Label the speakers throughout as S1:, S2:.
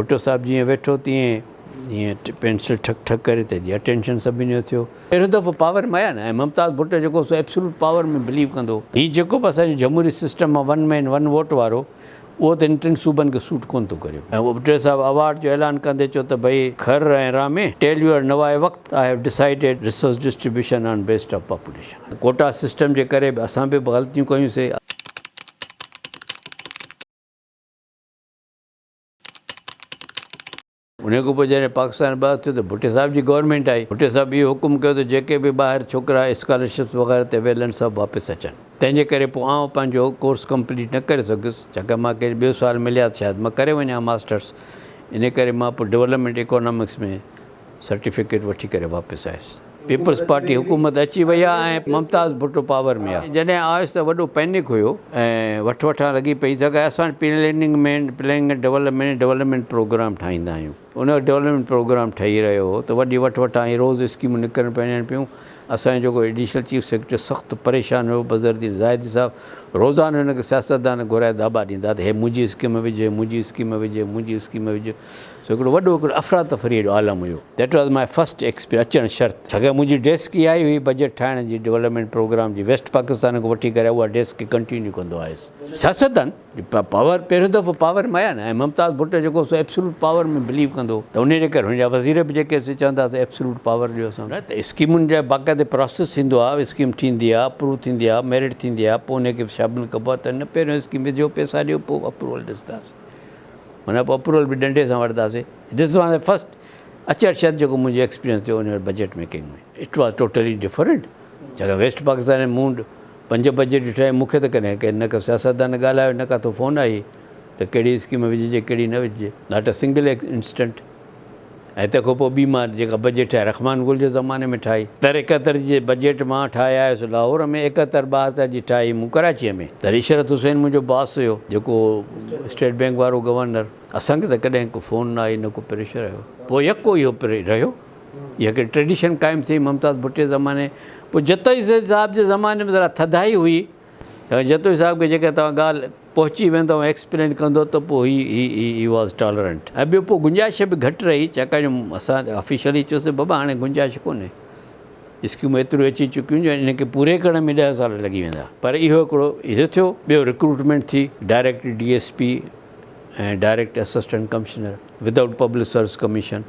S1: ڀٽو صاحب جيئن ويٺو تيئن ائين پينسل ٺڪ ٺڪ ڪري ته جي اٽينشن سڀني جو ٿيو. پهريون دفعو پاور ۾ آيا نه ۽ ممتاز ڀٽو جيڪو سو ايبسولوٽ پاور ۾ بليو ڪندو هو. هي جيڪو به اسان جو جمهوري سسٽم آ ون مين ون ووٽ وارو اهو ته هن ٽن صوبن کي سوٽ ڪونه ٿو ڪريو. ۽ ڀٽو صاحب اوارڊ جو اعلان ڪندي چيو ته ڀئي خر ۽ رامي ٽيل يور نوائي وقت I have decided resource distribution on based of population. Quota system جي ڪري به اسان به غلطيون ڪيون سي. انهيء کان پوء جڏهن پاڪستان به آزاد ٿيو ته ڀٽي صاحب جي گورنمينٽ آئي. ڀٽي صاحب اهو حڪم ڪيو ته جيڪي به ٻاهر ڇوڪرا اسڪالرشپس وغيره تي ويل آهن سڀ واپس اچن. تنهن جي ڪري پوء آئون پنهنجو ڪورس ڪمپليٽ نه ڪري سگهيس ڇاڪاڻ مان کي ٻيو سال ملي ها ته شايد مان ڪري وڃان ها ماسٽرس. انهيء ڪري مان پوء ڊولپمينٽ ايڪانامڪس ۾ سرٽيفڪيٽ وٺي ڪري واپس آيس. پيپلز پارٽي حڪومت اچي وئي ها ۽ ممتاز ڀٽو پاور ۾ ها. جڏهن آيس ته وڏو پينڪ هيو ۽ وٺ وٺان لڳي پئي ته اسان وٽ پليننگ مين پليننگ ۽ ڊولپمينٽ ڊولپمينٽ پروگرام ٺاهيندا آهيون. ان وقت ڊولپمينٽ پروگرام ٺهي رهيو هو ته وڏي وٺ وٺان ۽ روز اسڪيمون نڪرڻ پيڻيان پيون. اسان جو جيڪو ايڊيشنل چيف سيڪريٽري سخت پريشان هيو بظهرالدين زاهدي صاحب روزانو هن کي سياستدان گهرائي داٻا ڏيندا ته هي منهنجي اسڪيم وجهه هي منهنجي اسڪيم وجهه هي منهنجي اسڪيم وجهه. سو هڪڙو وڏو هڪڙو افراتفريء جو عالم هيو. That was my first experience اچڻ شرط ڇاڪاڻ منهنجي ڊيسڪ اها ئي هئي بجيٽ ٺاهڻ جي ڊولپمينٽ پروگرام جي ويسٽ پاڪستان کان وٺي ڪري اها ڊيسڪ کي ڪنٽينيو ڪندو آيس سياستدان جي پاور پهريون دفعو پاور ۾ آيا نه ۽ ممتاز ڀٽو جيڪو سو ايبسولوٽ پاور ۾ بليو ڪندو هو ته انهي جي ڪري هن جا وزير به جيڪي سي چوندا هئا سي ايبسولوٽ پاور ڏيو اسان کي نه ته اسڪيمن جا باقاعدي پراسيس ٿيندو آهي اسڪيم ٺهندي آهي اپروو ٿيندي آهي ميرٽ ٿيندي آهي پوء انهي کي شابل ڪبو آهي ته هن پهريون اسڪيم وجهو پيسا ڏيو پوء اپروول ڏسنداسين ان کان پوء اپروول به ڏنڊي سان وٺنداسين. This was my first اچڻ شرط جيڪو منهنجو ايڪسپيرينس ٿيو ان وقت budget making ۾. It was totally different ڇاڪاڻ ويسٽ پاڪستان ۾ مون پنج بجيٽ ڏٺا آهن مون کي ته ڪڏهن ڪنهن نه ڪو سياستدان ڳالهايو نه ڪاٿو فون آئي ته ڪهڙي اسڪيم وجهجي ڪهڙي نه وجهجي Not a single incident. ۽ تنهن کان پوء ٻي مار جيڪا بجيٽ آء رحمان گل جي زماني ۾ ٺاهي. تر اڪهتر جي بجيٽ مان ٺاهي آيس لاهور ۾ اڪهتر ٻاهتر جي ٺاهي مون ڪراچيء ۾. تڏهن عشرت حسين منهنجو باس هيو جيڪو هو اسٽيٽ بينڪ وارو گورنر. اسان کي ته ڪڏهن ڪو فون نه آئي نه ڪو پريشر آيو. پوء يڪو اهو پري رهيو. اها هڪڙي ٽريڊيشن قائم ٿي ممتاز ڀٽي زماني پوء جتوئي صاحب جي زماني ۾ ذرا ٿڌائي هئي جتوئي صاحب کي جيڪڏهن توهان ڳالهه پهچي ويندو ۽ ايڪسپلين ڪندو ته پوء هي هي هي هي واز ٽالرنٽ ۽ ٻيو پوء گنجائش به گهٽ رهي ڇاڪاڻ جو اسان آفيشلي چيوسين بابا هاڻي گنجائش ڪونهي اسڪيمون ايتريون اچي چڪيون جو انهن کي پوري ڪرڻ ۾ ڏهه سال لڳي ويندا پر اهو هڪڙو اهو ٿيو ٻيو رڪروٽمينٽ ٿي direct D S P ۽ direct assistant commissioner without public service commission.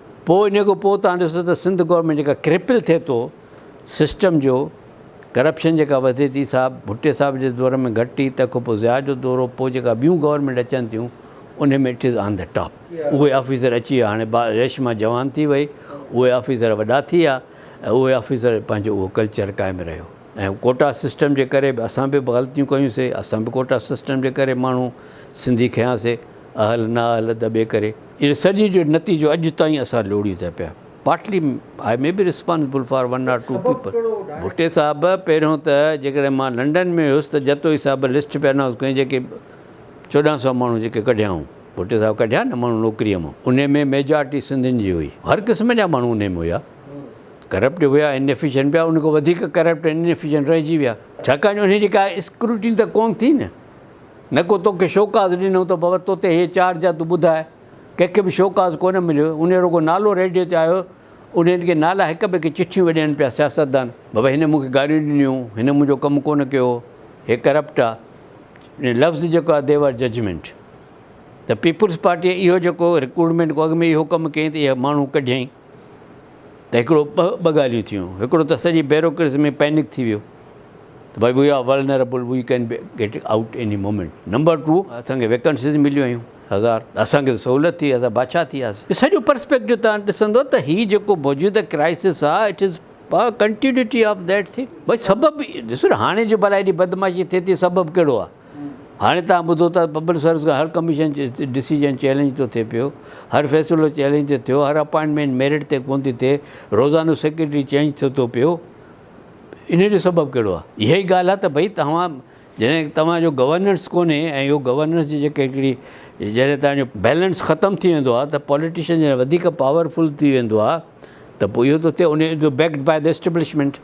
S1: پوء انهي کان پوء تهان ڏسو ته سنڌ گورنمينٽ جيڪا ڪرپل ٿئي ٿو سسٽم جو ڪرپشن جيڪا وڌي ٿي سا ڀٽي صاحب جي دور ۾ گهٽ هئي تنهن کان پوء ضياء جو دور هو پوء جيڪا ٻيون گورنمينٽ اچن ٿيون انهي ۾ it is on the top اهي آفيسر اچي ويا هاڻي با ريشما جوان ٿي وئي اهي آفيسر وڏا ٿي ويا ۽ اهي آفيسر پنهنجو اهو ڪلچر قائم رهيو ۽ ڪوٽا سسٽم جي ڪري به اسان به غلطيون ڪيون سي اسان به ڪوٽا سسٽم جي ڪري ماڻهو سنڌي کنيا سي اهل نه اهل دٻي ڪري. ان سڄي جو نتيجو اڄ تائين اسان لوڙيون ٿا پيا. Partly I may be responsible for one or two people. ڀٽي صاحب پهريون ته جيڪڏهن مان لنڊن ۾ هيس ته جتوئي صاحب لسٽ پي انائونس ڪيون جيڪي چوڏهن سؤ ماڻهو جيڪي ڪڍيائون ڀٽي صاحب ڪڍيا نه ماڻهو نوڪري مان انهي ۾ ميجارٽي سنڌين جي هئي هر قسم جا ماڻهو انهي ۾ هيا ڪرپٽ به هيا ان ايفيشنٽ به هيا ان کان وڌيڪ ڪرپٽ ان ايفيشنٽ رهجي ويا ڇاڪاڻ جو انهي جي ڪا اسڪروٽين ته ڪون ٿي نه. نه ڪو توکي شوڪاز ڏنو ته بابت توتي هيء چارج آ تون ٻڌاء. ڪنهن کي به شوڪاز ڪونه مليو. انهيء رڳو نالو ريڊيو تي آيو. انهين کي نالا هڪ ٻئي کي چٺيون ويهه ڏين پيا سياستدان. بابا هن مون کي گاريون ڏنيون. هن منهنجو ڪم ڪونه ڪيو. هي ڪرپٽ آ. ۽ لفظ جيڪو آ ديو آر ججمينٽ. ته پيپلز پارٽيء اهو جيڪو رڪروٽمينٽ ڪو اڳ ۾ اهو ڪم ڪيائين ته اهي ماڻهو ڪڍيائين. ته هڪڙو ٻه ڳالهيون ٿيون هڪڙو ته سڄي بيروڪريسي ۾ پينڪ ٿي ويو ته ڀاء we are vulnerable we can get out any moment number two اسان کي ويڪنسيز مليون هيون هزار اسان کي ته سهولت ٿي اسان بادشاهه ٿي وياسين اهو سڄو پرسپيڪٽو توهان ڏسندو ته هي جيڪو موجوده ڪرائسس آهي it is a continuity of that thing ڀاء سبب ڏسو نه هاڻي جو ڀلا هيڏي بدمعاشي ٿئي ٿي سبب ڪهڙو آهي هاڻي توهان ٻڌو ته پبلڪ سروس کان هر ڪميشن جو ڊسيزن چئلينج ٿو ٿئي پيو، هر فيصلو چئلينج ٿو ٿيو، هر اپائنٽمينٽ ميرٽ تي ڪون ٿي ٿئي، روزانو سيڪريٽري چئنج ٿئي ٿو پيو، انهي جو سبب ڪهڙو آهي؟ اها ئي ڳالهه آهي ته ڀئي توهان جڏهن توهان جو گورننس ڪونهي ۽ اهو گورننس جي جيڪي هڪڙي جڏهن توهان جو بيلنس ختم ٿي ويندو آهي ته پوليٽيشن جڏهن وڌيڪ پاور فل ٿي ويندو آهي ته پوء اهو ٿو ٿئي انهي جو backed by the establishment.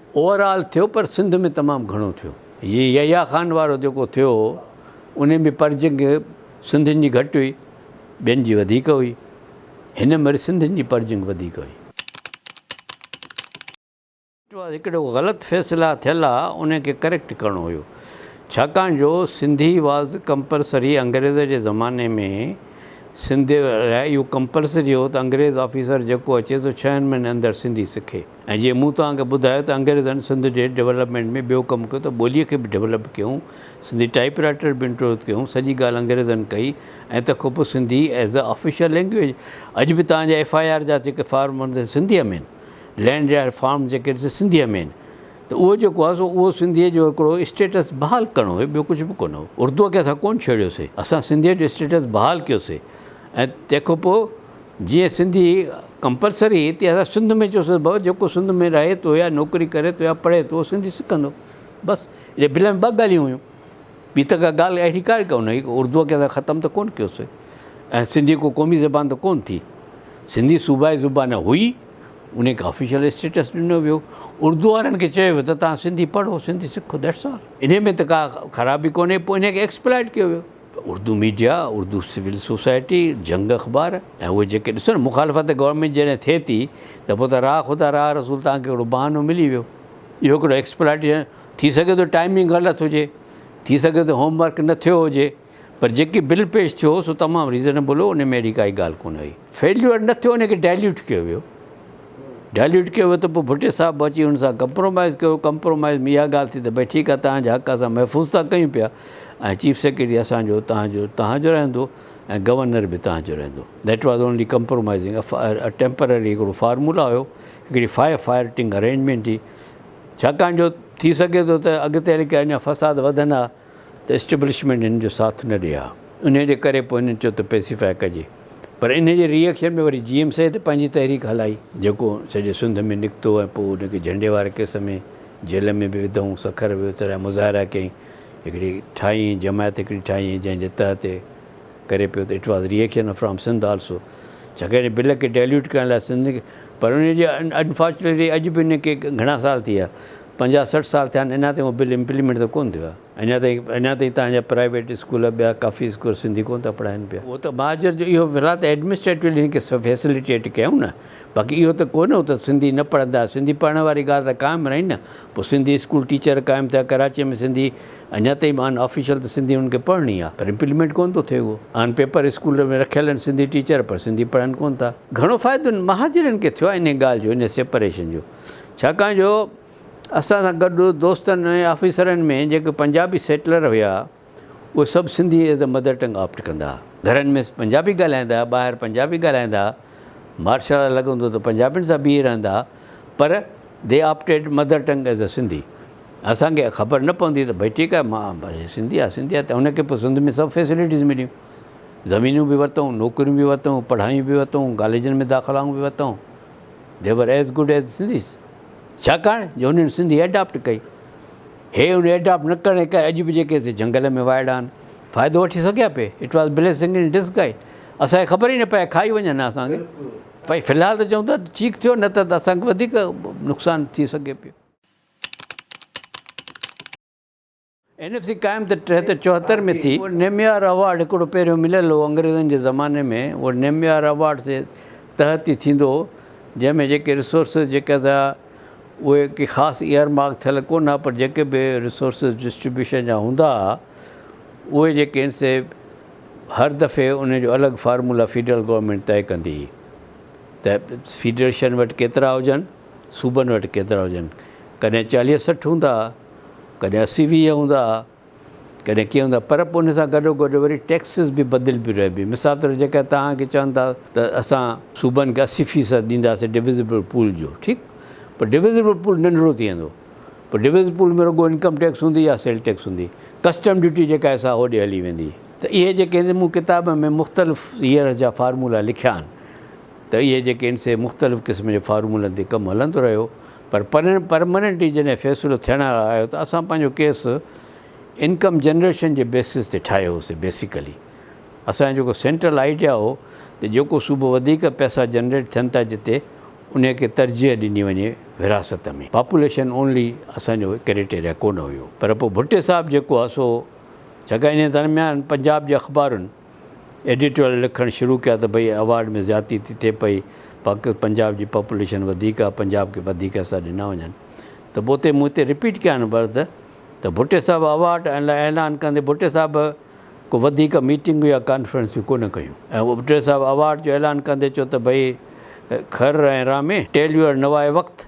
S1: Overall ٿيو پر سنڌ ۾ تمام گهڻو ٿيو. هي يحيٰ خان وارو جيڪو ٿيو هو ان ۾ پرجنگ سنڌين جي گهٽ هئي ٻين جي وڌيڪ هئي. هن م وري سنڌين جي پرجنگ وڌيڪ هئي. هڪڙو غلط فيصلا ٿيل آ ان کي ڪريڪٽ ڪرڻو هيو ڇاڪاڻ جو سنڌي واز ڪمپلسري انگريز جي زماني ۾ سنڌ لاء اهو ڪمپلسري هو ته انگريز آفيسر جيڪو اچي سو ڇهن مهينن اندر سنڌي سکي. ۽ جيئن مون توهان کي ٻڌايو ته انگريزن سنڌ جي ڊولپمينٽ ۾ ٻيو ڪم ڪيو ته ٻوليء کي به ڊولپ ڪيون، سنڌي ٽائيپ رائيٽر به انٽروڊيوس ڪيون، سڄي ڳالهه انگريزن ڪئي ۽ تکو پوء Sindhi as a official language, اڄ به توهان جا ايف آء آر جا جيڪي فارم هوندا سي سنڌيء ۾ آهن، لينڊ جا فارم جيڪي آهن سي سنڌيء ۾ آهن ته اهو جيڪو آهي سو اهو سنڌيء جو هڪڙو اسٽيٽس بحال ڪرڻو هيو ٻيو ڪجهه به ڪونه هو، اردوء کي اسان ڪونه ڇيڙيو سي، اسان سنڌيء جو اسٽيٽس بحال ڪيو سي ۽ تنهن کان پوء. جيئن سنڌي ڪمپلسري هتي اسان سنڌ ۾ چيوسين ڀؤ جيڪو سنڌ ۾ رهي ٿو يا نوڪري ڪري ٿو يا پڙهي ٿو اهو سنڌي سکندو بس اهڙي بل ۾ ٻه ڳالهيون هيون ٻي ته ڪا ڳالهه اهڙي ڪا ڪون هئي اردوء کي اسان ختم ته ڪون ڪيوسي ۽ سنڌي ڪو قومي زبان ته ڪون ٿي سنڌي صوبائي زبان هئي ان کي آفيشل اسٽيٽس ڏنو ويو اردو وارن کي چيو ويو ته تان سنڌي پڙهو سنڌي سکو ديٽس آل ان ۾ ته ڪا خرابي ڪونهي پوء ان کي ايڪسپلائيٽ ڪيو ويو ته Urdu media, Urdu civil society, Jang اخبار ۽ اهي جيڪي ڏسو نه مخالفت گورنمينٽ جي جڏهن ٿئي ٿي ته پوء ته راهه خدا راهه رسول توهان کي هڪڙو بهانو ملي ويو. اهو هڪڙو ايڪسپلاٽيشن ٿي سگهي ٿو ٽائمنگ غلط هجي، ٿي سگهي ٿو هوم ورڪ نه ٿيو هجي پر جيڪي بل پيش ٿيو سو تمام ريزنيبل هو انهي ۾ اهڙي ڪائي ڳالهه ڪونه هئي. فيليور نه ٿيو ان کي ڊائليوٽ ڪيو ويو ڊائليوٽ ڪيو ويو ته پوء ڀٽي صاحب به اچي ان سان ڪمپرومائز ڪيو ڪمپرومائز ۾ اها ڳالهه ٿي ته ڀئي ٺيڪ آهي تهان جا حق اسان محفوظ ٿا ڪيون پيا ۽ چيف سيڪريٽري اسان جو تهان جو تهان جو رهندو ۽ گورنر به تهان جو رهندو that was only compromising temporary هڪڙو فارمولا هيو هڪڙي فائر فائرٽنگ ارينجمينٽ هئي ڇاڪاڻ جو ٿي سگهي ٿو ته اڳتي هلي ڪري اڃا فساد وڌندا ته اسٽيبلشمينٽ هن جو ساٿ نه ڏئي ها انهي جي ڪري پوء هنن چيو ته پيسيفاء ڪجي پر انهي جي ري ايڪشن ۾ وري جي ايم سيد پنهنجي تحريڪ هلائي جيڪو سڄي سنڌ ۾ نڪتو ۽ پوء ان کي جهنڊي واري ڪيس ۾ جيل ۾ به وڌئون سکر به وسريا مظاهرا ڪيائين هڪڙي ٺاهي ۽ جماعت هڪڙي ٺاهي ۽ جنهن جي تحت هي ڪري پيو ته it was reaction from Sindh also ڇاڪاڻ هن بل کي ڊيليوٽ ڪرڻ لاء سنڌ پر انهي جي انفارچونيٽلي اڄ به انهي کي گهڻا سال ٿي ويا پنجاهه سٺ سال ٿيا آهن اڃا تائين اهو بل امپليمينٽ ته ڪونه ٿيو آهي. اڃا تائين اڃا تائين تهان جا پرائيويٽ اسڪول ٻيا ڪافي اسڪول سنڌي ڪونه ٿا پڙهائين پيا. اهو ته مهاجر جو اهو في الحال ته ايڊمنسٽريٽولي هن کي فيسليٽيٽ ڪيائون نه باقي اهو ته ڪونه هو ته سنڌي نه پڙهندا سنڌي پڙهڻ واري ڳالهه ته قائم رهي نه پوء سنڌي اسڪول ٽيچر قائم ٿيا ڪراچي ۾ سنڌي اڃا تائين آن آفيشل ته سنڌي انهن کي پڙهڻي آهي پر امپليمينٽ ڪونه ٿو ٿئي اهو آن پيپر اسڪول ۾ رکيل آهن سنڌي ٽيچر پر سنڌي پڙهن ڪونه ٿا. گهڻو فائدو مهاجرن کي ٿيو آهي انهي ڳالهه جو انهي سيپريشن جو. ڇاڪاڻ جو اسان سان گڏ دوستن ۽ آفيسرن ۾ جيڪي پنجابي سيٽلر هيا اهي سڀ Sindhi as a mother tongue opt ڪندا ها. گهرن ۾ پنجابي ڳالهائيندا ها، ٻاهر پنجابي ڳالهائيندا ها، مارشل لا لڳندو ته پنجابين سان بيهي رهندا ها پر they opted mother tongue as a Sindhi. اسان کي خبر نه پوندي هئي ته ڀئي ٺيڪ آهي مان هي سنڌي آهي سنڌي آهي ته هن کي پوء سنڌ ۾ سڀ فيسلٽيز مليون. زمينون به ورتئون، نوڪريون به ورتئون، پڙهايون به ورتئون، ڪاليجن ۾ داخلائون به ورتئون. They were as good as Sindhis. ڇاڪاڻ جو هنن سنڌي ايڊاپٽ ڪئي. هي ان ايڊاپٽ نه ڪرڻ جي ڪري اڄ به جيڪي هتي جهنگل ۾ وائڙا آهن، فائدو وٺي سگهيا پي. It was blessing in disguise. اسان کي خبر ئي نه پئي کائي وڃن ها اسان کي. ڀائي في الحال ته چئون ٿا ٺيڪ ٿيو نه ته اسان کي وڌيڪ نقصان ٿي سگهي پيو. اين ايف سي قائم ته ٽيهه ته چوهتر ۾ ٿي. نيميار اوارڊ هڪڙو پهريون مليل هو انگريزن جي زماني ۾ اهو نيميار اوارڊ جي تحت ئي ٿيندو هو جنهن ۾ جيڪي ريسورسز جيڪي ٿا اهي ڪي خاص ايئر مارڪ ٿيل ڪونه ها پر جيڪي به ريسورسز ڊسٽريبيوشن جا هوندا ها اهي جيڪي آهن سي هر دفعي انهن جو الڳ فارمولا فيڊرل گورنمينٽ طئي ڪندي هئي ته فيڊريشن وٽ ڪيترا هجن صوبن وٽ ڪيترا هجن ڪڏهن چاليهه سٺ هوندا ها. ڪڏهن اسي ويهه هوندا ها ڪڏهن ڪيئن هوندا پر پوء ان سان گڏو گڏ وري ٽيڪسز به بدلبيون رهبيون مثال طور جيڪڏهن توهان کي چون ٿا ته اسان صوبن کي اسي فيصد ڏينداسين ڊويزبل پول جو ٺيڪ پر ڊويزبل پول ننڍڙو ٿي ويندو پر ڊويزبل پول ۾ رڳو انڪم ٽيڪس هوندي يا سيل ٽيڪس هوندي ڪسٽم ڊيوٽي جيڪا آهي سا هوڏي هلي ويندي ته اهي جيڪي مون ڪتاب ۾ مختلف ييئرز جا فارمولا لکيا آهن. ته اهي جيڪي ان سي مختلف قسم جي فارمولن تي ڪم هلندو رهيو پر پرماننٽلي جڏهن فيصلو ٿيڻ لاء آيو ته اسان پنهنجو ڪيس انڪم جنريشن جي بيسس تي ٺاهيو هوسي بيسيڪلي اسان جو جيڪو سينٽرل آئيڊيا هو ته جيڪو صوبو وڌيڪ پئسا جنريٽ ٿين ٿا جتي انهي کي ترجيح ڏني وڃي ورهاست ۾ پاپوليشن اونلي اسان جو ڪريٽيريا ڪونه هيو پر پوء ڀٽي صاحب جيڪو آ سو جيڪا انهي درميان پنجاب جي اخبارن. ايڊيٽوريل لکڻ شروع ڪيا ته ڀئي ايوارڊ ۾ زيادتي ٿي ٿئي پئي، پاڪ پنجاب جي پاپوليشن وڌيڪ آ، پنجاب کي وڌيڪ حصا ڏنا وڃن ته پوء تي مون هتي رپيٽ ڪيا آهن برد ته ڀٽي صاحب ايوارڊ لا اعلان ڪندي ڀٽي صاحب ڪو وڌيڪ ميٽنگون يا ڪانفرنسون ڪونه ڪيون ۽ ڀٽي صاحب ايوارڊ جو اعلان ڪندي چيو ته ڀئي خر ۽ رامي ٽيل يور نوائي وقت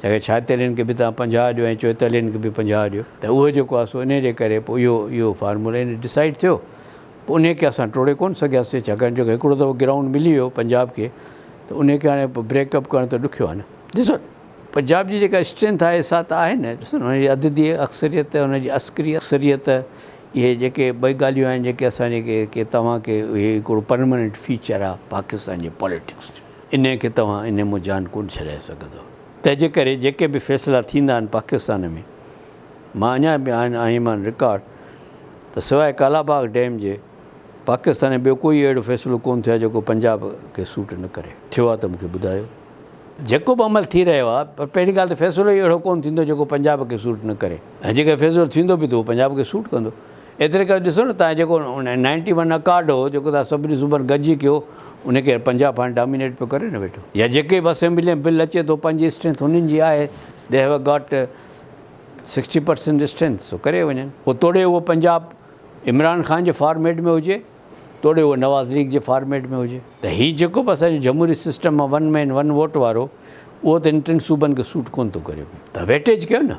S1: تنهن کي ڇاتيلين کي به تان پنجاهه ڏيو ۽ چوئيتالين کي به پنجاهه ڏيو ته اهو جيڪو آهي سو انهي جي ڪري پوء اهو اهو فارمولا ان ڊسائيڊ ٿيو پوء انهي کي اسان ٽوڙي ڪونه سگهياسين ڇاڪاڻ جو هڪڙو دفعو گرائونڊ ملي ويو پنجاب کي ته انهي کي هاڻي پوء بريڪ اپ ڪرڻ ته ڏکيو آهي نه ڏسو پنجاب جي جيڪا اسٽرينٿ آهي سا ته آهي نه ڏسو نه ان جي عددي اڪثريت ۽ ان جي عسڪري اڪثريت اهي جيڪي ٻئي ڳالهيون آهن جيڪي اسان جي ڪي ڪي توهان کي اهي هڪڙو پرماننٽ فيچر آهي پاڪستان جي پاليٽڪس جو. انهيء کي توهان انهيء مون جان ڪونه ڇڏائي سگهندؤ. تنهنجي ڪري جيڪي به فيصلا ٿيندا آهن پاڪستان ۾، مان اڃا به آهن آهي مان رڪارڊ ته سواء ڪالاباغ ڊيم جي پاڪستان ۾ ٻيو ڪوئي اهڙو فيصلو ڪونه ٿيو آهي جيڪو پنجاب کي سوٽ نه ڪري. ٿيو آهي ته مون کي ٻڌايو. جيڪو به عمل ٿي رهيو آهي پر پهرين ڳالهه ته فيصلو ئي اهڙو ڪونه ٿيندو جيڪو پنجاب کي سوٽ نه ڪري ۽ جيڪڏهن فيصلو ٿيندو به ته اهو پنجاب کي سوٽ ڪندو. ايتري ڪري ڏسو نه تان جيڪو نائنٽي ون اڪارڊ هو جيڪو تان سڀني صوبن گڏجي ڪيو انهي کي پنجاب هاڻي ڊامينيٽ پيو ڪري نه ويٺو يا جيڪي به اسيمبلي ۾ بل اچي ٿو پنهنجي اسٽرينٿ انهن جي آهي they have got sixty percent strength سو ڪري وڃن پوء توڙي اهو پنجاب عمران خان جي فارميٽ ۾ هجي توڙي اهو نواز ليگ جي فارميٽ ۾ هجي ته هي جيڪو به اسان جو جمهوري سسٽم مان ون مين ون ووٽ وارو اهو ته هن ٽن صوبن کي سوٽ ڪونه ٿو ڪري ته ويٽيج ڪيو نه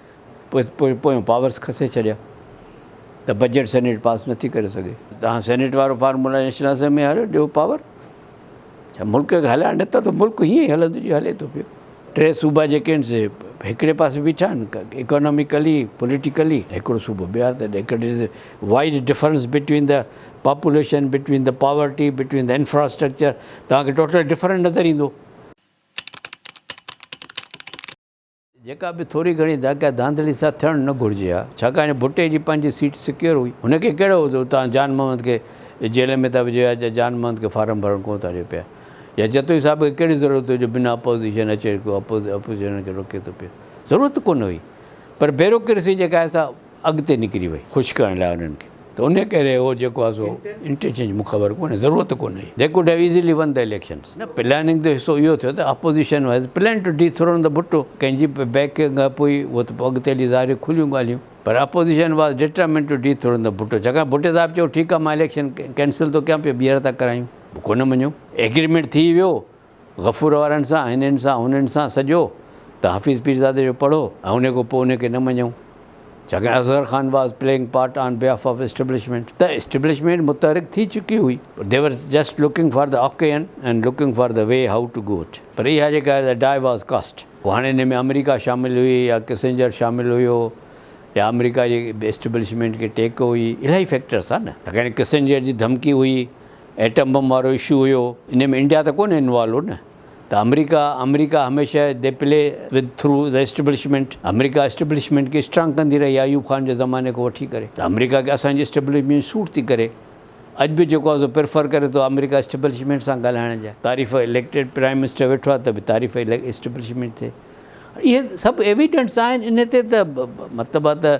S1: پويون پاورز کسي ڇڏيا ته بجيٽ سينيٽ پاس نه ٿي ڪري سگهي. توهان سينيٽ وارو فارمولا نيشنل اسيمبلي ۾ آڻيو ڏيو پاور ڇا ملڪ کي هلائڻ نه ٿا ته ملڪ هيئن ئي هلندو جيئن هلي ٿو پيو. ٽي صوبا جيڪي آهن سي هڪڙي پاسي بيٺا آهن اڪاناميڪلي پوليٽيڪلي هڪڙو صوبو ٻيهار ته هڪڙي ڏس wide difference between the population between the poverty between the infrastructure توهان کي ٽوٽل ڊفرنٽ نظر ايندو. جيڪا به ٿوري گهڻي داکيا ڌانڌلي سان ٿيڻ نه گهرجي ها، ڇاڪاڻ ڀٽي جي پنهنجي سيٽ سڪيور هئي، هن کي ڪهڙو هو ته اتان جان محمد کي جيل ۾ ٿا وجهيو يا جان محمد کي فارم ڀرڻ ڪونه ٿا ڏيو پيا يا جتوئي صاحب کي ڪهڙي ضرورت هئي جو بنا اپوزيشن اچي ڪو اپوزيشن کي روڪي ٿو پيو، ضرورت ڪونه هئي پر بيروڪريسي جيڪا آهي سا اڳتي نڪري وئي خوش ڪرڻ لاء انهن کي ته انهي ڪري اهو جيڪو آهي سو انٽينشن جي مون خبر ڪونهي ضرورت ڪونهي they could have easily won the elections نه پلاننگ جو حصو اهو ٿيو ته opposition has planned to dethrone the Bhutto ڪنهن جي به بيڪنگ اپ هئي اهو ته پوء اڳتي هلي ظاهري کليون ڳالهيون پر opposition was determined to dethrone the Bhutto ڇاڪاڻ ڀٽي صاحب چيو ٺيڪ آهي مان اليڪشن ڪينسل ٿو ڪيان پيو ٻيهر ٿا ڪرايون ڀٽو نه مڃيو ايگريمينٽ ٿي ويو غفور وارن سان، هنن سان، هنن سان سڄو ته حفيظ پيرزادي جو پڙهو ۽ ان کان پوء ان کي نه مڃون. ڇاڪاڻ Asghar Khan was playing part on behalf of establishment ته اسٽيبلشمينٽ متحرڪ ٿي چڪي هئي پر they were just looking for the occasion and looking for the way how to go at پر اها جيڪا دي ڊائي واز ڪاسٽ پوء هاڻي ان ۾ آمريڪا شامل هئي يا ڪسنجر شامل هيو يا آمريڪا جي اسٽيبلشمينٽ کي ٽيڪ هئي الائي فيڪٽرس آهي نه ڇاڪاڻ ڪسنجر جي ڌمڪي هئي. ايٽم بم وارو اشو هيو انهي ۾ انڊيا ته ڪونهي انوالو هو نه ته آمريڪا آمريڪا هميشه they play with through the establishment America establishment کي اسٽرانگ ڪندي رهي آهي ايوب خان جي زماني کان وٺي ڪري ته آمريڪا کي اسان جي اسٽبلشمينٽ سوٽ ٿي ڪري اڄ به جيڪو آهي سو پريفر ڪري ٿو آمريڪا اسٽبلشمينٽ سان ڳالهائڻ جا تعريف اليڪٽيڊ پرائيم منسٽر ويٺو آهي ته به تعريف اسٽبلشمينٽ ٿئي اهي سڀ ايويڊنٽس آهن انهي تي ته مطلب آهي ته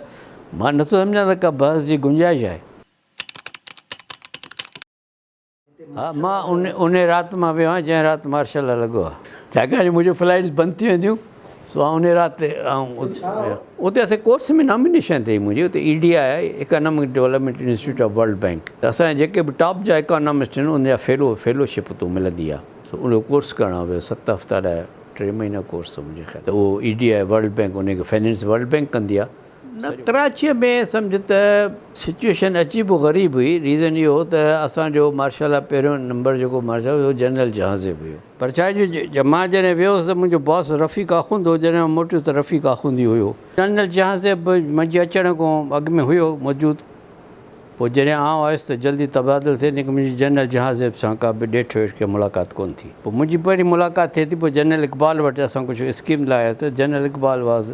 S1: مان نٿو سمجهان ته ڪا بحث جي گنجائش آهي. ها مان انهي رات مان ويو آهيان جنهن رات مارشل لا لڳو آهي ڇاڪاڻ جو منهنجون فلائيٽس بند ٿي وينديون سو آئون انهي رات تي آئون اتي اسان جي ڪورس ۾ نامينيشن ٿي منهنجي اتي E D I economic development institute of world bank اسان جا جيڪي به ٽاپ جا اڪانامسٽ آهن ان جا فيلو فيلو شپ اتو ملندي آهي سو ان جو ڪورس ڪرڻ آئون ويو ست هفتا لاء ٽي مهينا ڪورس هو منهنجي خيال ته اهو E D I world bank انهي کي فنانس ورلڊ بينڪ ڪندي آهي نه ڪراچيء ۾ سمجهه ته سچوئيشن اچي به غريب هئي، ريزن اهو هو ته اسان جو مارشال لا پهريون نمبر جيڪو مارشال هو اهو جنرل جهانزيب هيو. پرچائي جو جي مان جڏهن ويو هوس ته منهنجو باس رفيق آخوند هو، جڏهن مان موٽيس ته رفيق آخوند ئي هيو. جنرل جهانزيب به منهنجي اچڻ کان اڳ ۾ هيو موجود، پوء جڏهن آئون آيس ته جلدي تبادلو ٿيو، ليڪن منهنجي جنرل جهانزيب سان ڪا به ڏيٺ ويٺ ڪا ملاقات ڪونه ٿي. پوء منهنجي پهرين ملاقات ٿئي ٿي، پوء جنرل اقبال وٽ اسان ڪجهه اسڪيم لاياسين، general Iqbal was.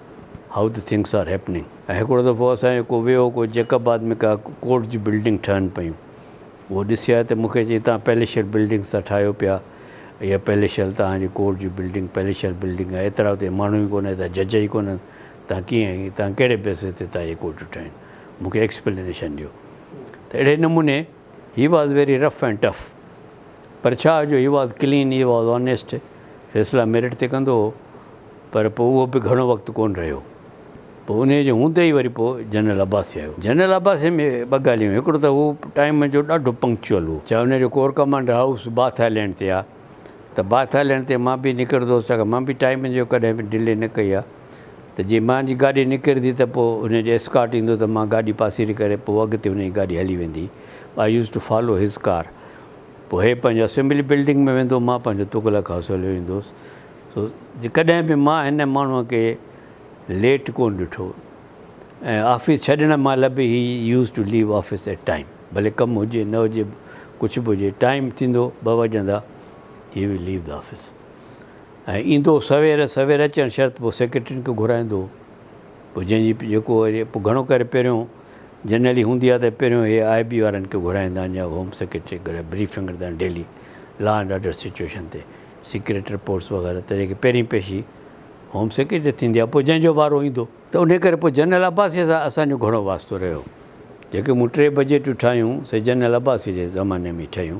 S1: How the things are happening ۽ هڪڙو دفعو اسان جو ڪو ويو ڪو جيڪب آباد ۾ ڪا ڪورٽ جون بلڊنگ ٺهن پيون اهو ڏسي آيو ته مون کي چيائين تهان پئليشل بلڊنگس ٿا ٺاهيو پيا اها پئليشل تهان جي ڪورٽ جي بلڊنگ پئليشل بلڊنگ آهي ايترا اتي ماڻهو ئي ڪونه ايترا جج ئي ڪونهن تهان ڪيئن تهان ڪهڙي بيسس تي تهان اهي ڪورٽون ٺاهين مون کي ايڪسپلينيشن ڏيو ته اهڙي نموني He was very rough and tough پر ڇا جو He was clean He was honest فيصلا ميرٽ تي ڪندو هو پر پوء اهو به گهڻو وقت ڪونه رهيو پوء انهيء جي هوندي ئي وري پوء جنرل عباسي آيو. جنرل عباسي ۾ ٻه ڳالهيون هيون هڪڙو ته هو ٽائيم جو ڏاڍو پنڪچوئل هو چاهي انهيء جو corps commander house Bath Island تي آ ته باٿ آئيلينڊ تي مان به نڪرندو هوس ڇاڪاڻ مان به ٽائيم جو ڪڏهن به ڊلي نه ڪئي آ. ته جي مان جي گاڏي نڪرندي ته پوء انهيء جو اسڪارٽ ايندو ته مان گاڏي پاسيري ڪري پوء اڳتي انهيء جي گاڏي هلي ويندي. I used to follow his car. پوء هي پنهنجو اسيمبلي بلڊنگ ۾ ويندو مان پنهنجو تغلق هائوس هليو ايندو هوس. سو جي ڪڏهن به مان هن ماڻهوء کي ليٽ ڪونه ڏٺو ۽ آفيس ڇڏڻ مهل به he used to leave office at time ڀلي ڪم هجي نه هجي ڪجهه به هجي ٽائيم ٿيندو ٻه وڄندا he we leave the office. ۽ ايندو سوير، سوير اچڻ شرط پوء سيڪريٽرين کي گهرائيندو هو، پوء جنهن جي جيڪو وري پوء گهڻو ڪري پهريون جنرلي هوندي ها ته پهريون هي آء بي وارن کي گهرائيندا آهن يا هوم سيڪريٽري کي گهرائي بريفنگ ڏيندا آهن daily law and order situation تي سيڪريٽ رپورٽس وغيره طريقي کي پهرين پيشي هوم سيڪريٽري تي ٿيندي ها پوء جنهن جو وارو ايندو ته انهي ڪري پوء جنرل عباسيء سان اسان جو گهڻو واسطو رهيو جيڪي مون ٽي بجيٽون ٺاهيون سي جنرل عباسيء جي زماني ۾ ئي ٺهيون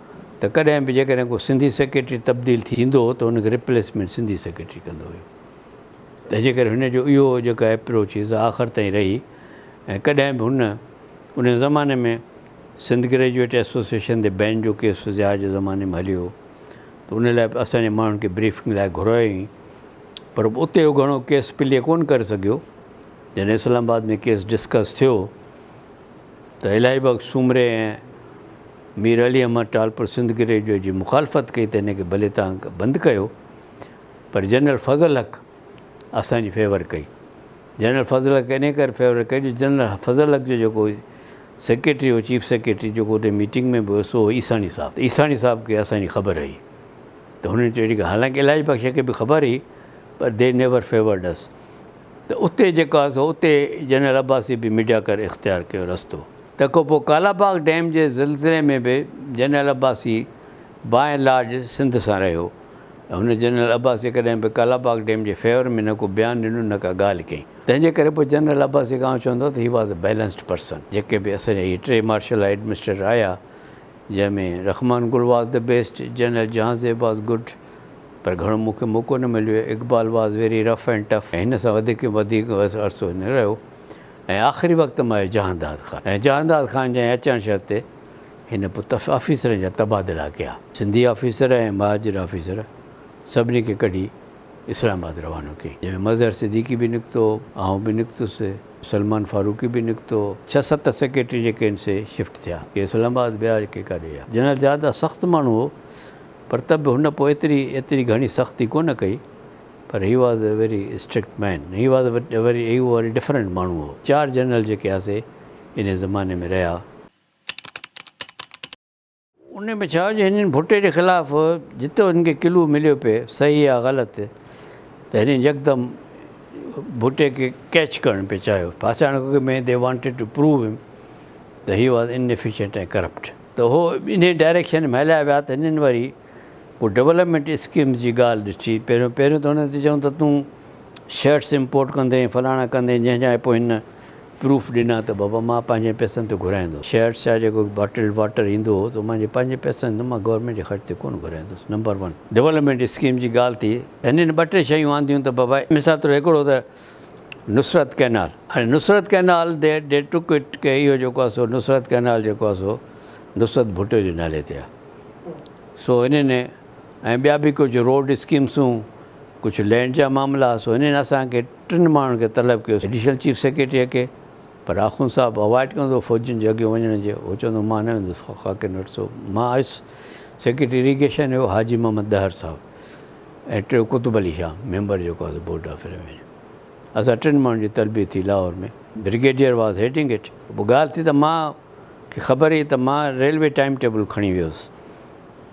S1: ته ڪڏهن به جيڪڏهن ڪو سنڌي سيڪريٽري تبديل ٿيندو هو ته ان کي ريپليسمينٽ سنڌي سيڪريٽري ڪندو هيو تنهن جي ڪري هن جو اهو جيڪا ايپروچ هئي سا آخر تائين رهي ۽ ڪڏهن به هن ان زماني ۾ سنڌ گريجوئيٽ ايسوسيئيشن تي بين جو ڪيس ضياء جي زماني ۾ هليو هو ته ان لاء به اسان جي ماڻهن کي بريفنگ لاء گهرايو هئائين پر اتي هو گهڻو ڪيس پلي ڪونه ڪري سگهيو جڏهن اسلام آباد ۾ ڪيس ڊسڪس ٿيو ته الاهي بخش سومري ۽ مير علي احمد ٽالپر سنڌ گريجوئيٽ جي مخالفت ڪئي ته هن کي ڀلي توهان بند ڪيو پر جنرل فضل حق اسان جي فيور ڪئي. جنرل فضل حق انهي ڪري فيور ڪئي جو جنرل فضل حق جو جيڪو سيڪريٽري هو چيف سيڪريٽري جيڪو اتي ميٽنگ ۾ به هو سو هو عيساڻي صاحب ته عيساڻي صاحب کي اسان جي خبر هئي ته هنن چيو اهڙي ڳالهه حالانڪه الاهي بخش کي به خبر هئي پر دي نيور فيورڊ اس. ته اتي جيڪو آهي سو اتي جنرل عباسي به ميڊيا ڪري اختيار ڪيو رستو تکو پوء ڪالاباغ ڊيم جي زلزلي ۾ به general Abbasi by and large Sindh سان رهيو هن جنرل عباسي ڪڏهن به ڪالاباغ ڊيم جي فيور ۾ نه ڪو بيان ڏنو نه ڪا ڳالهه ڪئي تنهن جي ڪري پوء جنرل عباسي کان آئون چوندو آهيان ته he was a balanced person جيڪي به اسان جا هي ٽي مارشل ايڊمنسٽريٽر آيا جنهن ۾ Rehman Gul was the best general Jahanzeb was good. پر گهڻو مون کي موقعو نه مليو هي. Iqbal was very rough and tough ۽ هن سان وڌيڪ وڌيڪ عرصو هي نه رهيو ۽ آخري وقت مان هي جهانداد خان ۽ جهانداد خان جي اچڻ شرط تي هن پوء تف آفيسرن جا تبادلا ڪيا. سنڌي آفيسر ۽ مهاجر آفيسر سڀني کي ڪڍي اسلام آباد روانو ڪيائين جنهن ۾ مظهر صديقي به نڪتو، آئون به نڪتس، سلمان فاروقي به نڪتو، ڇهه ست سيڪريٽري جيڪي هن سي شفٽ ٿيا. ڪي اسلام آباد ويا ڪي ڪاڏي ويا. جنرل جهانداد سخت ماڻهو هو پر ته به هن پوء ايتري ايتري گهڻي سختي ڪونه ڪئي پر he was a very strict man he was a very he very different ماڻهو هو چار جنرل جيڪي هئا سي انهي زماني ۾ رهيا انهي ۾ ڇا هو جو هنن ڀٽي جي خلاف جتو هنن کي ڪلو مليو پئي صحيح يا غلط ته هنن يڪدم ڀٽي کي ڪيچ ڪرڻ پئي چاهيو ڦاسائڻ کان اڳ ۾ دي وانٽيڊ ٽو پروو هيم ته هي واز انيفيشنٽ ۽ ڪرپٽ. ته هو انهي ڊائريڪشن ۾ هليا ويا ته هنن وري ڪو ڊولپمينٽ اسڪيمز جي ڳالهه ڏٺي پهريون پهريون ته هنن تي چيون ته تون شرٽس امپورٽ ڪندين فلاڻا ڪندين جنهن جا پوء هن پروف ڏنا ته بابا مان پنهنجن پئسن تي گهرائيندس شرٽس يا جيڪو باٽلڊ واٽر ايندو هو ته منهنجي پنهنجي پئسن تي مان گورنمينٽ جي خرچ تي ڪونه گهرائيندس نمبر ون ڊولپمينٽ اسڪيم جي ڳالهه ٿي هنن ٻه ٽي شيون آنديون ته بابا مثال طور هڪڙو ته نصرت ڪئنال هاڻي Nusrat canal they they took it ڪي اهو جيڪو آهي سو نصرت ڪئنال جيڪو آهي سو نصرت ڀٽو جي نالي تي آهي سو هنن ۽ ٻيا به ڪجهه روڊ اسڪيمسون ڪجهه لينڊ جا معاملا سو هنن اسان کي ٽن ماڻهن کي طلب ڪيو ايڊيشنل چيف سيڪريٽريء کي پر آخوند صاحب اوائڊ ڪندو فوجين جي اڳيون وڃڻ جي هو چوندو مان نه ويندس خاڪين وٽ سو مان آيس سيڪريٽري ايريگيشن هو حاجي محمد ڏهر صاحب ۽ ٽيون قطب علي شاهه ميمبر جيڪو آهي سو بورڊ آف ريونيو اسان ٽن ماڻهن جي تربيت ٿي Lahore ۾ brigadier was heading it پوء ڳالهه ٿي ته مان کي خبر هئي ته مان ريلوي ٽائيم ٽيبل کڻي ويس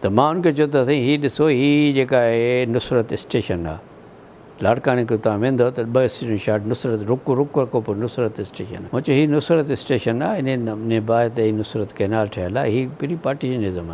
S1: ته مان ان کي چيو ته سائين هي ڏسو هي جيڪا آهي نصرت اسٽيشن آهي لاڙڪاڻي کان تان ويندو ته ٻه اسٽيشن شاٽ نصرت رڪ رڪ کان پوء نصرت اسٽيشن آهي مان چيو هي نصرت اسٽيشن آهي انهي نباهه تي هي نصرت ڪئنال ٺهيل آهي هي پري پارٽيشنزم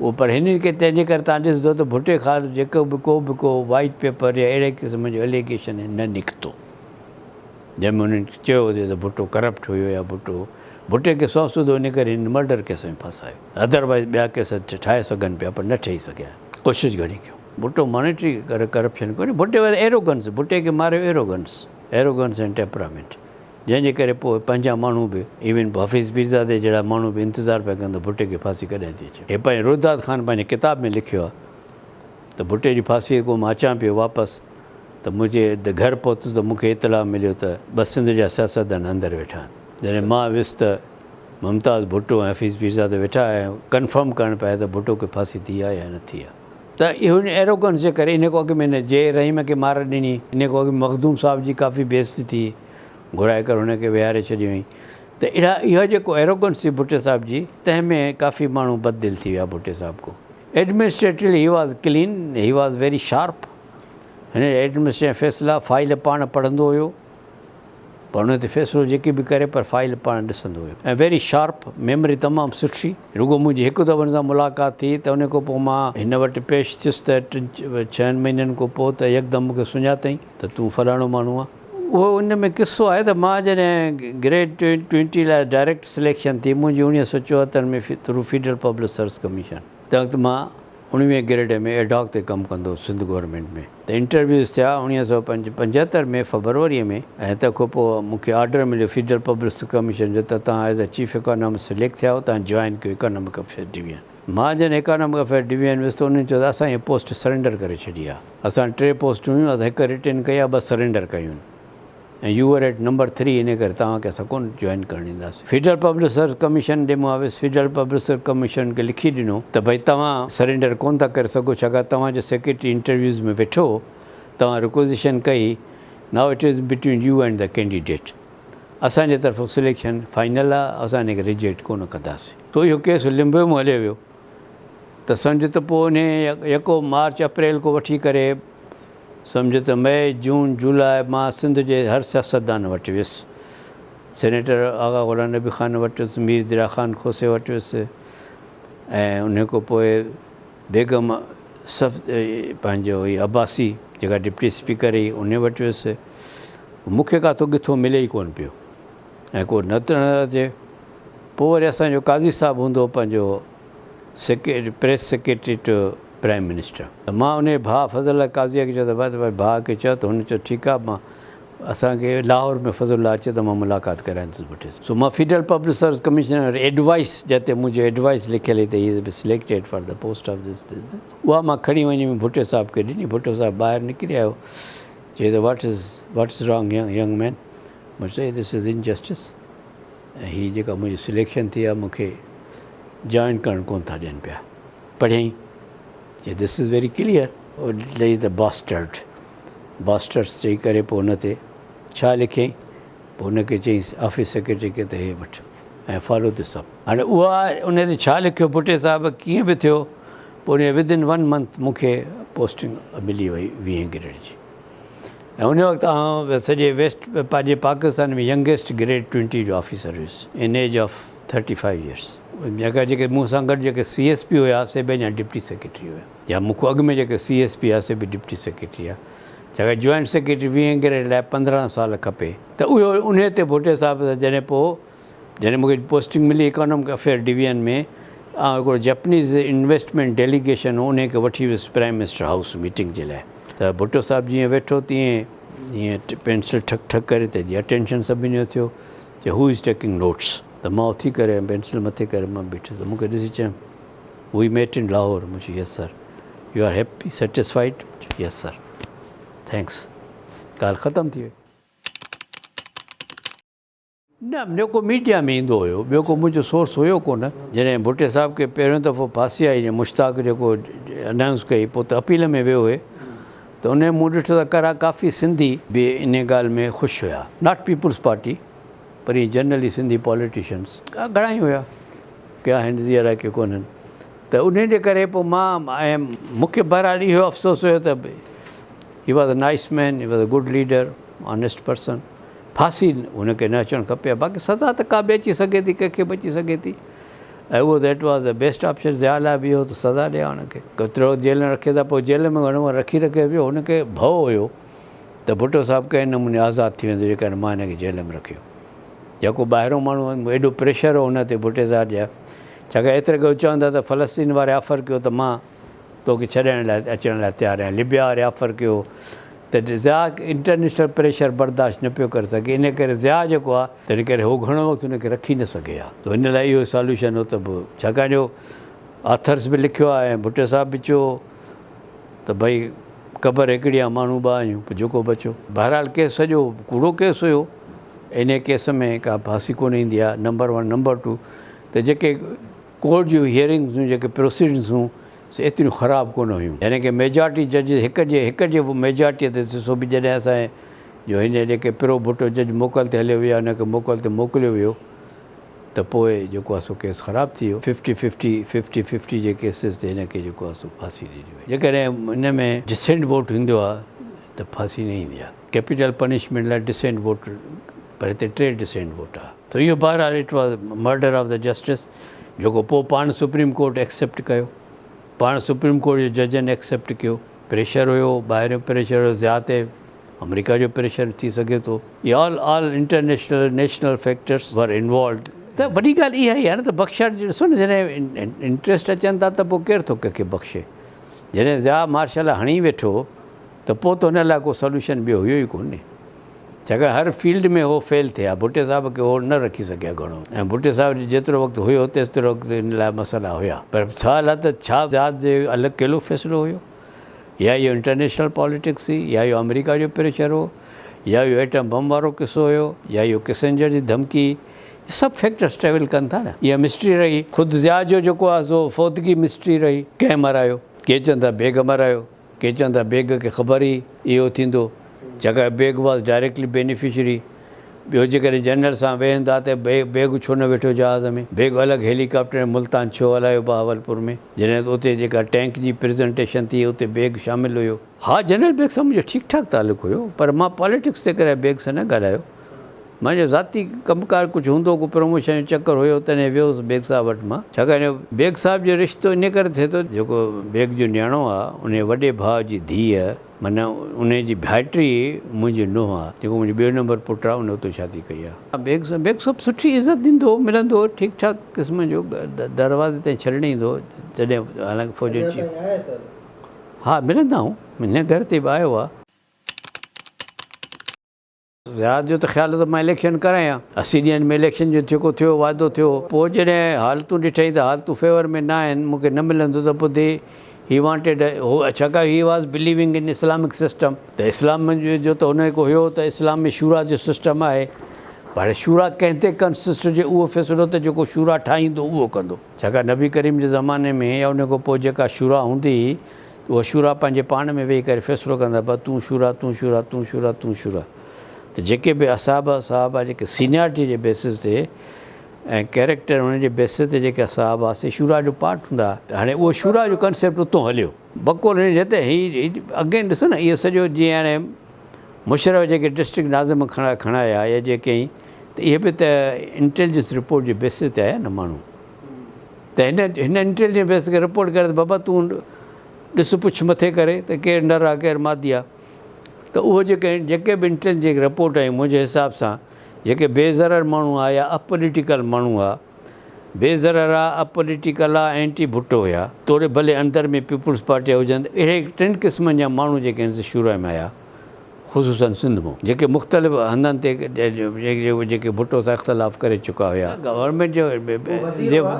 S1: اهو پر هن کي تنهنجي ڪري توهان ڏسندو ته ڀٽي خان جيڪو به ڪو به ڪو وائيٽ پيپر يا اهڙي قسم جو اليگيشن نه نڪتو جنهن ۾ انهن چيو هجي ته ڀٽو ڪرپٽ هيو يا ڀٽو ڀٽي کي سو سودو ان ڪري هن مرڊر ڪيس ۾ ڦاسايو ادر وائيز ٻيا ڪيس ٺاهي سگهن پيا پر نه ٺهي سگهيا آهن ڪوشش گهڻي ڪيو ڀٽو مانيٽري ڪرپشن ڪونهي ڀٽي وائيز ايروگنس ڀٽي کي ماريو ايروگنس ايروگنس اينڊ ٽيپرامينٽ. جنهن جي ڪري پوء پنهنجا ماڻهو به ايون حفيظ پيرزادي جهڙا ماڻهو به انتظار پيا ڪن ته ڀٽي کي ڦاسي ڪڏهن ٿي اچي. هي پنهنجي روداد خان پنهنجي ڪتاب ۾ لکيو آهي ته ڀٽي جي ڦاسي کان مان اچان پيو واپس ته منهنجي ادي گهر پهتس ته مون کي اطلاع مليو ته ٻه سنڌ جا سياستدان اندر ويٺا آهن. جڏهن مان ويس ته ممتاز ڀٽو ۽ حفيظ پيرزادو ويٺا آهيا ۽ ڪنفرم ڪرڻ پيا آيا ته ڀٽو کي ڦاسي ٿي آهي يا نه ٿي آهي. ته اهو هن ايروگنس جي ڪري انهيء کان اڳ ۾ هن جي رحيم کي مار ڏني، انهيء کان اڳ ۾ مخدوم صاحب جي ڪافي بي عزتي ٿي، گهرائي ڪر هن کي ويهاري ڇڏيو هئائين ته اڙا اها جيڪو ايروگنس ٿي ڀٽي صاحب جي، تنهن ۾ ڪافي ماڻهو بد دل ٿي ويا ڀٽي صاحب کان. Administratively he was clean, he was very sharp, هن جا ايڊمنسٽريشن جا فيصلا، فائيل پاڻ پڙهندو هيو، پر ان تي فيصلو جيڪي به ڪري پر فائيل پاڻ ڏسندو هيم ۽ ويري شارپ، ميمري تمام سٺي، رڳو منهنجي هڪ دفعو هن سان ملاقات ٿي ته ان کان پوء مان هن وٽ پيش ٿيس ته ٽن ڇهن مهينن کان پوء ته يڪدم مون کي سڃاتئي ته تون فلاڻو ماڻهو آهين. اهو ان ۾ قصو آهي ته مان جڏهن گريڊ ٽوئنٽي لاء ڊائريڪٽ سليڪشن ٿي منهنجي اڻيهه سئو چوهتر ۾ through federal public service commission, تنهن وقت مان اڻويهين گريڊ ۾ ايڊهاڪ تي ڪم ڪندو هوس سنڌ گورنمينٽ ۾ ته انٽرويوز ٿيا اڻويهه سؤ پنجهتر ۾ فبروريء ۾ ۽ تنهن کان پوء مون کي آرڊر مليو فيڊرل پبلسٽي ڪميشن جو ته توهان as a chief economist select ٿيا آهيو توهان جوائن ڪيو اڪانامڪ افيئرز ڊويزن مان جڏهن اڪانامڪ افيئرز ڊويزن ويس ته انهن چيو ته اسان هيء پوسٽ سرينڊر ڪري ڇڏي آهي اسان ٽي پوسٽون هيون اسان هڪ رٽن ڪئي آهي ٻه سرينڊر ڪيون ۽ you are at number three انهي ڪري توهان کي اسان ڪونه جوائن ڪرڻ ڏينداسين فيڊرل پبلسر ڪميشن ڏي مهاويس فيڊرل پبلسر ڪميشن کي لکي ڏنو ته ڀئي توهان سرينڊر ڪونه ٿا ڪري سگهو ڇاڪاڻ توهان جو سيڪريٽري انٽرويوز ۾ ويٺو هو توهان رڪوزيشن ڪئي now it is between you and the candidate اسان جي طرفون سليڪشن فائنل آهي اسان انهي کي ريجيڪٽ ڪونه ڪنداسين سو اهو ڪيس لمبيو ۾ هليو ويو ته سمجهه ته پوء انهي يڪو مارچ اپريل کان وٺي ڪري سمجهه ته مئي، جون، جولاء مان سنڌ جي هر سياستدان وٽ ويس. سينيٽر آغا غلام نبي خان وٽ ويس، مير دريا خان کوسي وٽ ويس ۽ ان کان پوء بيگم صف پنهنجو هئي عباسي جيڪا ڊپٽي اسپيڪر هئي ان وٽ ويس. مون کي ڪاٿو ڪٿو ملي ئي ڪونه پيو ۽ ڪو نه ته نظر اچي. پوء وري اسان جو قاضي صاحب هوندو هو پنهنجو secretary press secretary to prime minister. ته مان انهيء ڀاء فضل الله قاضيء کي چيو ته ڀاء ڀاء کي چئه ته هن چيو ٺيڪ آهي مان اسان کي لاهور ۾ فضل الله اچي ته مان ملاقات ڪرائيندس ڀٽي سان سو مان federal public service commissioner advice جتي منهنجو ايڊوائيس لکيل هئي ته he is been selected for the post of this this this اها مان کڻي وڃي ۾ ڀٽي صاحب کي ڏني ڀٽو صاحب ٻاهر نڪري آيو چئي ته what is what is wrong young man مون چيو دس ايز انجسٽس ۽ هي جيڪا منهنجي سليڪشن ٿي آهي مون کي جوائن ڪرڻ ڪونه ٿا ڏين پيا. پڙهيائين چي This is very clear. Audit لئي ته Bastard Bastards چئي ڪري پوء ان تي ڇا لکيائين؟ پوء ان کي چيائينس آفيس سيڪريٽري کي ته هي وٺ ۽ Follow this up. هاڻي اها ان تي ڇا لکيو ڀٽي صاحب ڪيئن به ٿيو پوء ان جي Within one month مون کي پوسٽنگ ملي وئي ويهين گريڊ جي. ۽ ان وقت آئون سڄي ويسٽ پنهنجي پاڪستان ۾ ينگيسٽ گريڊ ٽوئنٽي جو آفيسر هيس ان age of thirty five years جيڪا جيڪي مون سان گڏ جيڪي سي ايس پي هيا سي به اڃا ڊپٽي سيڪريٽري هيا يا مون کان اڳ ۾ جيڪي سي ايس پي هيا سي به ڊپٽي سيڪريٽري هيا جيڪا جوائنٽ سيڪريٽري ويهين گريڊ لاء پندرهن سال کپي ته اهو انهي تي ڀٽي صاحب جڏهن پوء جڏهن مون کي پوسٽنگ ملي اڪانامڪ افيئر ڊويزن ۾ آئون هڪڙو جئپنيز انويسٽمينٽ ڊيليگيشن هو انهيء کي وٺي ويس پرائيم منسٽر هائوس ميٽنگ جي لاء ته ڀٽو صاحب جيئن ويٺو تيئن ائين پينسل ٺڪ ٺڪ ڪري ته جي اٽينشن سڀني جو ٿيو چي هو از ٽيڪنگ نوٽس ته مان اٿي ڪري ائين پينسل مٿي ڪري مان بيٺس ته مون کي ڏسي چيم وي ميٽ ان لاهور مون چيو yes sir you are happy satisfied yes sir thanks ڳالهه ختم ٿي وئي. نه جيڪو ميڊيا ۾ ايندو هيو ٻيو ڪو منهنجو سورس هيو ڪونه جڏهن ڀٽي صاحب کي پهريون دفعو ڦاسي آئي جي مشتاق جيڪو انائونس ڪئي پوء ته اپيل ۾ ويو هي ته انهي مون ڏٺو ته ڪرا ڪافي سنڌي به انهي ڳالهه ۾ خوش هيا ناٽ پيپلز پارٽي پر ائين جنرلي سنڌي پاليٽيشنز گهڻائي هيا ڪي آهن زي الائي ڪي ڪونهن ته انهي جي ڪري پوء مان ۽ مون کي بهرحال اهو افسوس هيو ته he was a nice man he was a good leader honest person ڦاسي هن کي نه اچڻ کپي ها باقي سزا ته ڪا به اچي سگهي ٿي ڪنهن کي به اچي سگهي ٿي ۽ اهو that was the best option Zia لاء به اهو هو ته سزا ڏي ها هن کي ڪيترو وقت جيل نه رکي ته پوء جيل ۾ گهڻو رکي رکي به هن کي ڀؤ هيو ته ڀٽو صاحب ڪنهن نموني آزاد ٿي ويندو جيڪڏهن مان هن کي جيل ۾ رکيو يا ڪو ٻاهرو ماڻهو ايڏو پريشر هو هن تي ڀٽي صاحب جا ڇاڪاڻ ايتري ڪو چوندا ته فلسطين واري آفر ڪيو ته مان تو کي ڇڏائڻ لاء اچڻ لاء تيار آهيان. لبيا ريافر ڪيو ته ضياء انٽرنيشنل پريشر برداشت نه پيو ڪري سگهي ان ڪري ضياء جيڪو آهي. تنهن ڪري هو گهڻو وقت ان کي رکي نه سگهي ها تو ان لاء اهو ساليوشن هو ته به ڇاڪاڻ جو آٿرس به لکيو آهي ۽ ڀٽو صاحب به چيو هو ته ڀئي قبر هڪڙي آهي ماڻهو ٻه آهيون پوء جيڪو به اچو. بهرحال ڪيس سڄو ڪوڙو ڪيس هيو انهي ڪيس ۾ ڪا ڦاسي ڪونه ايندي آهي نمبر ون نمبر ٽو ته جيڪي ڪورٽ جون هيئرنگز جون جيڪي پروسيڊنگز هيون سي ايتريون خراب ڪونه هيون يعني ڪي ميجارٽي ججز هڪ جي هڪ جي ميجارٽي تي سو به جڏهن اسان جي جو هن جيڪي پرو ڀٽو جج موڪل تي هليو ويو ان کي موڪل تي موڪليو ويو ته پوء جيڪو آهي سو ڪيس خراب ٿي ويو ففٽي ففٽي ففٽي ففٽي جي ڪيسز تي هن کي جيڪو آهي سو ڦاسي ڏني وئي جيڪڏهن ان ۾ ڊسينٽ ووٽ ايندو آهي ته ڦاسي نه ايندي آهي. ڪيپيٽل پنشمينٽ لاء ڊسينٽ ووٽ پر هتي ٽي ڊسينٽ ووٽ آ ته اهو بهرحال it was murder of the justice جيڪو پوء پاڻ سپريم ڪورٽ ايڪسيپٽ ڪيو پاڻ سپريم ڪورٽ جي ججن ايڪسيپٽ ڪيو پريشر هيو ٻاهريون پريشر هيو ضياء تي آمريڪا جو پريشر ٿي سگهي ٿو يا all all international national factors were involved ته وڏي ڳالهه اها ئي آهي نه ته بخشڻ جي ڏسو نه جڏهن انٽريسٽ اچن ٿا ته پوء ڪير ٿو ڪنهن کي بخشي جڏهن ضياء مارشل هڻي ويٺو ته پوء ته ان لاء ڪو سلوشن ٻيو هيو ئي ڪونهي ڇاڪاڻ هر فيلڊ ۾ هو فيل ٿيا ڀٽي صاحب کي هو نه رکي سگهيا گهڻو ۽ ڀٽي صاحب جو جيترو وقت هيو تيسترو وقت ان لاء مسئلا هيا پر سوال آهي ته ڇا ذات جو اهو الڪيلو فيصلو هيو يا اهو انٽرنيشنل پاليٽڪس هئي يا اهو آمريڪا جو پريشر هو يا اهو ايٽم بم وارو قصو هيو يا اهو ڪسنجر جي ڌمڪي هئي هي سڀ فيڪٽرس ٽريول ڪن ٿا نه اها مسٽري رهي خود ضياء جو جيڪو آهي سو فوتگي مسٽري رهي ڪنهن مرايو ڪي چون ٿا بيگ مرايو. کيچن ته بيگ کي خبر ئي اهو ٿيندو جيڪا بيگ واز ڊائريڪٽلي بينيفشري ٻيو جيڪڏهن جنرل سان ويهن ٿا ته بيگ ڇو نه ويٺو جهاز ۾ بيگ الڳ هيلي ڪاپٽر ۽ ملتان ڇو هلايو بهاولپور ۾ جڏهن اتي جيڪا ٽينڪ جي پريزنٽيشن ٿي اتي بيگ شامل هيو. ها جنرل بيگ سان منهنجو ٺيڪ ٺاڪ تعلق هيو پر مان پاليٽڪس جي ڪري بيگ سان نه ڳالهايو منهنجو ذاتي ڪم ڪار ڪجهه هوندو ڪو پروموشن جو چڪر هيو تڏهن ويو هوس بيگ صاحب وٽ مان ڇاڪاڻ جو بيگ صاحب جو رشتو انهي ڪري ٿئي ٿو جيڪو بيگ جو نياڻو آ انهي وڏي ڀاء جي ڌيء معنيٰ انهي جي ڀائٽي ئي منهنجي نونهن آ جيڪو منهنجو ٻيو نمبر پٽ آ انهي اتو شادي ڪئي آ. بيگ صاحب بيگ صاحب سٺي عزت ڏيندو هو ملندو هو ٺيڪ ٺاڪ قسم جو دروازي تائين ڇڏڻ ايندو هو جڏهن حالانڪه فوج جو چيف ها ملندا آهون هن گهر تي به آيو آ. رياض جو ته خيال هو ته مان اليڪشن ڪرايان ها، اسي ڏينهن ۾ اليڪشن جو جيڪو ٿيو هو واعدو ٿيو هو، پوء جڏهن حالتون ڏٺائين ته حالتون فيور ۾ نه آهن، مون کي نه ملندو ته پوء دي هي وانٽيڊ هو ڇاڪاڻ he was believing in Islamic system ته اسلام جو ته هن کي هيو ته اسلام ۾ شورا جو سسٽم آهي پر هاڻي شورا ڪنهن تي ڪنسسٽ هجي اهو فيصلو ته جيڪو شورا ٺاهيندو اهو ڪندو ڇاڪاڻ نبي ڪريم جي زماني ۾ يا ان کان پوء جيڪا شورا هوندي هئي اها شورا پنهنجي پاڻ ۾ ويهي ڪري فيصلو ڪندا بس تون شورا تون شورا تون شورا تون شورا ته جيڪي به اصحاب صحابه جيڪي سينيارٽي جي بيسز تي ۽ ڪيريڪٽر انهن جي بيسز تي جيڪي اصحاب هئا سي شورا جو پارٽ هوندا هئا. هاڻي اهو شورا جو ڪنسيپٽ اتو هليو بقول هن جي ته هي اگين ڏسو نه اهو سڄو جيئن هاڻي مشرف جيڪي ڊسٽرڪٽ ناظم کڻايا يا جيڪي ته اهي به ته انٽيلجنس رپورٽ جي بيسز تي آيا نه ماڻهو. ته هن هن انٽيليجنس بيس کي رپورٽ ڪري ته بابا تون ڏس پڇ مٿي ڪري ته ڪير نر آ ڪير مادي آ ته اهو جيڪي جيڪي به انٽيليجنس جيڪي رپورٽ آيون منهنجي حساب سان جيڪي بي ضرر ماڻهو آ يا اپوليٽيڪل ماڻهو آ بي ضرر آ اپوليٽيڪل آ اينٽي ڀٽو هيا توڙي ڀلي اندر ۾ پيپلز پارٽي هجن اهڙي ٽن قسمن جا ماڻهو جيڪي هن سان شروع ۾ آيا. خصوصن سنڌ مون جيڪي مختلف هنڌن تي جيڪي ڀٽو سان اختلاف ڪري چڪا هيا گورنمينٽ جو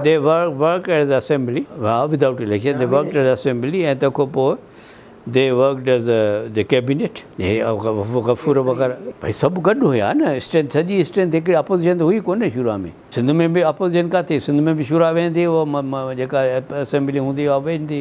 S1: دي ورڪڊ ايز اسيمبلي ها without election the worked as assembly ۽ تنهن کان پوء the worked as the cabinet Ghafoor وغيره ڀاء سڀ گڏ هيا نه اسٽرينٿ سڄي اسٽرينٿ هڪڙي اپوزيشن ته هئي ڪونه شروع ۾ سنڌ ۾ به اپوزيشن ڪا ٿي سنڌ ۾ به شروع ۾ ويندي هئي جيڪا اسيمبلي هوندي هئي اهو ويندي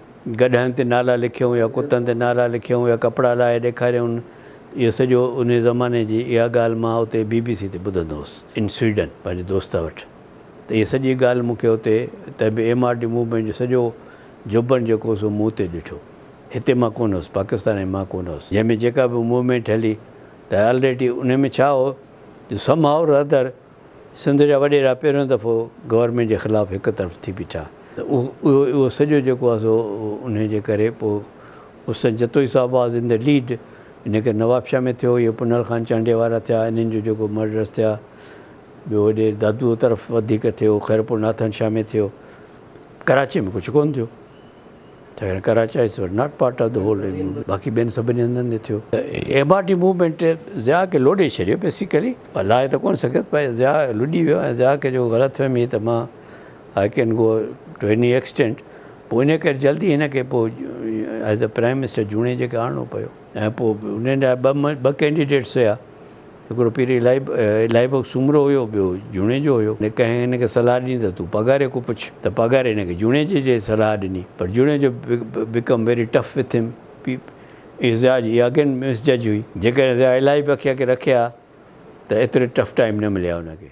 S1: گڏهن تي نالا لکيائون يا ڪتن تي نالا لکيائون يا ڪپڙا لاهي ڏيکاريائون اهو سڄو انهي زماني جي اها ڳالهه مان اتي بي بي سي تي ٻڌندو هوس ان سويڊن پنهنجي دوست وٽ ته اهي سڄي ڳالهه مون کي اتي ته به ايم آر ڊي موومينٽ جو سڄو جوڀن جيڪو هو سو مون اتي ڏٺو هتي مان ڪونه هوس پاڪستان ۾ مان ڪونه هوس جنهن ۾ جيڪا به موومينٽ هلي ته الريڊي انهي ۾ ڇا هو جو سم هاء رادر سنڌ جا وڏيرا پهريون دفعو گورنمينٽ جي خلاف هڪ طرف ٿي بيٺا ته اهو سڄو جيڪو آهي سو انهي جي ڪري پوء حسن جتوئي صاحب واز ان دي ليڊ ان ڪري نوابشاهه ۾ ٿيو اهي پنهل خان چانڊيي وارا ٿيا انهن جو جيڪو مرڊرس ٿيا ٻيو هوڏي دادوء طرف وڌيڪ ٿيو خيرپور ناٿن شاهه ۾ ٿيو ڪراچي ۾ ڪجهه ڪونه ٿيو. ته هيڻ Karachiites were not part of the whole M U باقي ٻين سڀني هنڌن تي ٿيو ته M R D movement Zia کي لوڏي ڇڏيو بيسيڪلي لاهي ته ڪونه سگهيس پر ضياء لڏي ويو ۽ ضياء کي جو غلط فهمي هئي ته مان I can go to any extent پوء ان ڪري جلدي هن کي پوء ايز اي پرائم منسٽر جوڻيجي کي آڻڻو پيو ۽ پوء انهن لاء ٻه ٻه ڪينڊيڊيٽس هيا هڪڙو پير الائي الائي بخش سومرو هيو، ٻيو جوڻيجو هيو. ڪنهن هن کي صلاح ڏني ته تون پگهاري کان پڇ ته پگهاري هن کي جوڻيجي جي صلاح ڏني پر Junejo became very tough with him پيپ ايز جاج هي اگين مس جج هئي جيڪڏهن ضياء الائي بخش کي رکي ها ته ايتري ٽف ٽائيم نه ملي ها هن کي.